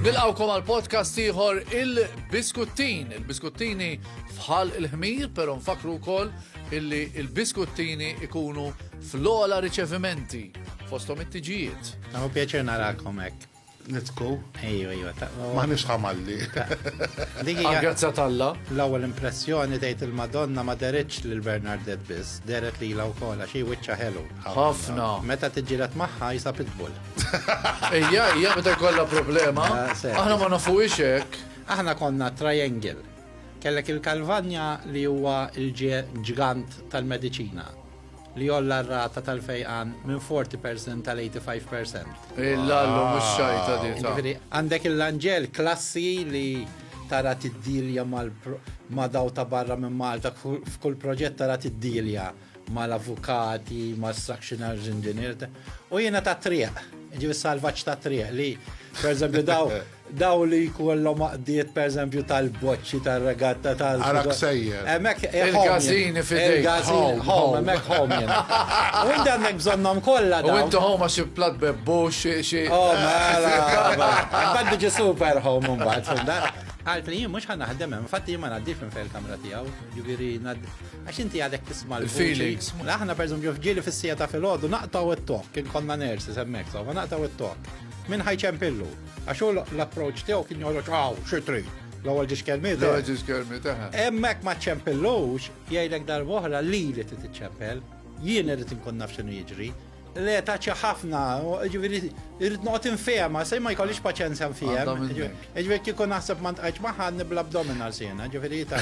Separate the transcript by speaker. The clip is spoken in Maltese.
Speaker 1: Nilqawkom għal podcast ieħor il-Biskuttin. Il-Biskuttini fħal il-ħmir, pero nfakru wkoll illi il-Biskuttini ikunu Fl-ogħla riċevimenti, fosthom it-tiġijiet. Tamu pjaċir narakom
Speaker 2: hekk. Nitku,
Speaker 3: ejju, ejju, ta'
Speaker 2: Ma nix ħamalli.
Speaker 3: Dik hija-
Speaker 1: Għal-grazzja t'Alla. L-ewwel impressjoni
Speaker 2: tgħid il-Madonna ma deritx lil Bernardet biss, deret lilha wkoll għax hi wiċċa ħelu. Ħafna. Meta
Speaker 1: tiġġieled
Speaker 2: magħha jisa pitbull. Ejja,
Speaker 1: ejja, meta jkollha problema. Ah, se. Aħna ma nafuhiex hekk. Aħna konna
Speaker 2: triangle. Kellek il-Kalvanja li huwa l-ġgant tal-mediċina. li jgħolla r-rata tal-fejqan minn 40 percent għal 85 percent. Il-lallu mhux
Speaker 1: xajta di. Jiġifieri għandek il-lanġel
Speaker 2: klassi li tara tiddilja ma' daw ta' barra minn Malta f'kull proġett tara tiddilja mal-avukati, ma' structional engineer u jiena ta' triq, ġifieri salvaġġ ta' triq li pereżempju daw Dawn li jkollhom għaqdiet pereżempju tal-boċċi tar-regatta tal- Ara ksejjer.
Speaker 3: Hemmhekk Il-każini
Speaker 1: fidejk. Il-każin home, hemmhekk
Speaker 2: home jien. U inti għandek bżonnhom kollha dawn. U inti home għax il-plat
Speaker 1: bebbu xi xi. Oh, mela.
Speaker 2: Imbagħad biġi super home imbagħad fimda. Għalt li jien mhux ħan naħdem hemm, fatt jien ma ngħaddix minn fejn kamra tiegħu, ġifieri għax inti għadek tisma' l-feelings. Aħna
Speaker 1: pereżempju fġieli
Speaker 2: fis-sija ta' filgħodu naqtaw it-tok, kien konna nersi semmek, so ma naqtaw it-tok. Minn ħajċempillu. Għax hu l-approċ tiegħu kien joħroġ għaw, xi trid. L-ewwel ġiex kelmiet. L-ewwel eh? ġiex kelmiet eh.
Speaker 1: Hemmhekk ma
Speaker 2: ċempillux jgħidlek darb'oħra li li trid iċċempel, jien irid inkun naf x'inhu jiġri. Le taċċa ħafna, ġifieri irid noqgħod infehma, se ma jkollix paċenzja nfihem. Ġifieri kieku naħseb ma ntqajtx magħha nibla abdominal siena, ġifieri ta'